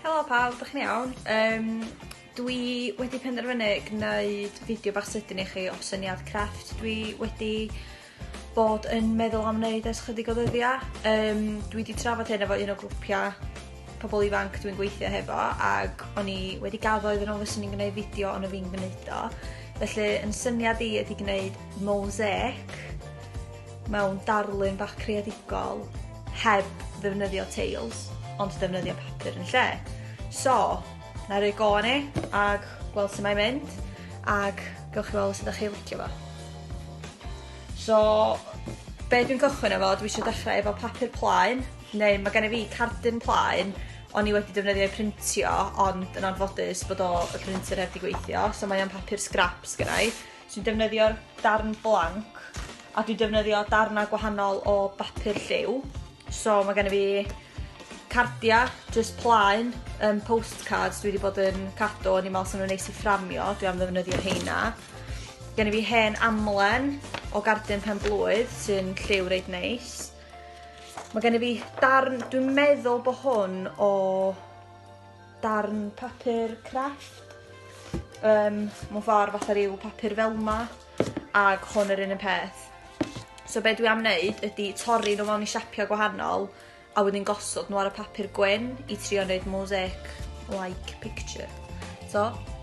Helo pawb, dych chi'n iawn? Um, dwi wedi penderfynu gwneud fideo bach sydyn i chi o syniad crefft dwi wedi bod yn meddwl am wneud ers chydig o ddyddiau. Um, dwi wedi trafod hyn efo un o grwpiau pobl ifanc dwi'n gweithio hefo ac o'n i wedi gaddo iddyn nhw fyswn i'n gwneud fideo ond o fi'n gwneud o. Felly yn syniad i ydy gwneud mosaic mewn darlun bach creadigol heb ddefnyddio teils ond defnyddio papur yn lle. So, na i roi go ni ag gweld sut mae'n mynd ag gawch chi weld os ydych chi licio fo. So, be dwi'n cychwyn efo, dwi eisiau dechrau efo papur plaen, neu mae gen i fi cardyn plaen, o'n i wedi defnyddio i printio, ond yn anffodus bod o y printer heb di gweithio, so mae o'n papur scraps gynnau. sy'n defnyddio'r darn blanc a dwi'n defnyddio darnau gwahanol o bapur lliw. So mae gen i fi cardiau, just plaen, um, postcards dwi wedi bod yn cadw, o'n i'n meddwl sy'n nhw'n neis i fframio, dwi am ddefnyddio heina. Gen i fi hen amlen o gardyn pen blwydd sy'n lliw reit neis. Mae gen i fi darn, dwi'n meddwl bod hwn o darn papur crafft yym mewn ffordd fatha ryw papur fel 'ma ag hwn yr un un peth. So be' dwi am neud ydi torri n'w mewn i siapia' gwahanol a wedyn gosod n'w ar y papur gwyn i trio neud mosaic like picture. So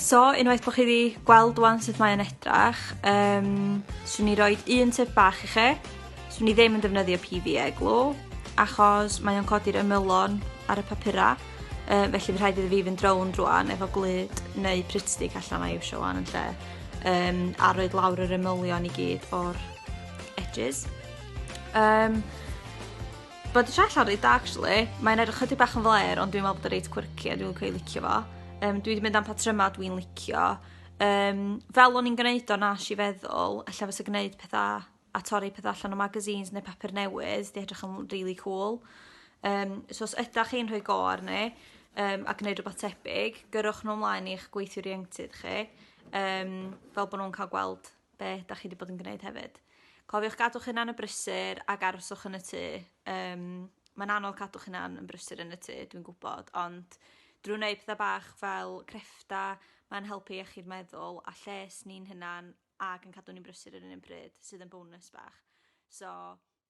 So, unwaith bod chi wedi gweld wan sut mae'n edrach, um, swn i roi un tip bach i chi. Swn i ddim yn defnyddio PVA glw, achos mae o'n codi'r ymylon ar y papura, uh, felly fi rhaid iddi fi fynd rown rwan efo glyd neu pritstick allan mae eisiau wan yn lle, um, a roed lawr yr ymylion i gyd o'r edges. Um, But the Cheshire Red actually, mae'n edrych chydig bach yn flair ond dwi'n meddwl bod o reit quirky a dwi'n licio ei licio fo. Um, dwi wedi mynd am patrymau dwi'n licio. Um, fel o'n i'n gwneud o nas i feddwl, allan fysa gwneud pethau a torri pethau allan o magazines neu papur newydd, di edrych yn really cool. Um, so os ydych chi'n rhoi go arni um, a gwneud rhywbeth tebyg, gyrwch nhw ymlaen i'ch gweithiwr ieuenctid chi, um, fel bod nhw'n cael gweld be' 'dach chi 'di bod yn gneud hefyd. Cofiwch gadw'ch hunan yn brysur ag aroswch yn y tŷ yym ma'n anodd cadw'ch hunan yn brysur yn y tŷ dwi'n gwbod ond drw' neud petha bach fel creffta ma'n helpu iechyd meddwl a lles ni'n hunan ag yn cadw ni'n brysur yr un un pryd sydd yn bonus bach. So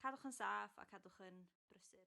cadwch yn saff a cadwch yn brysur.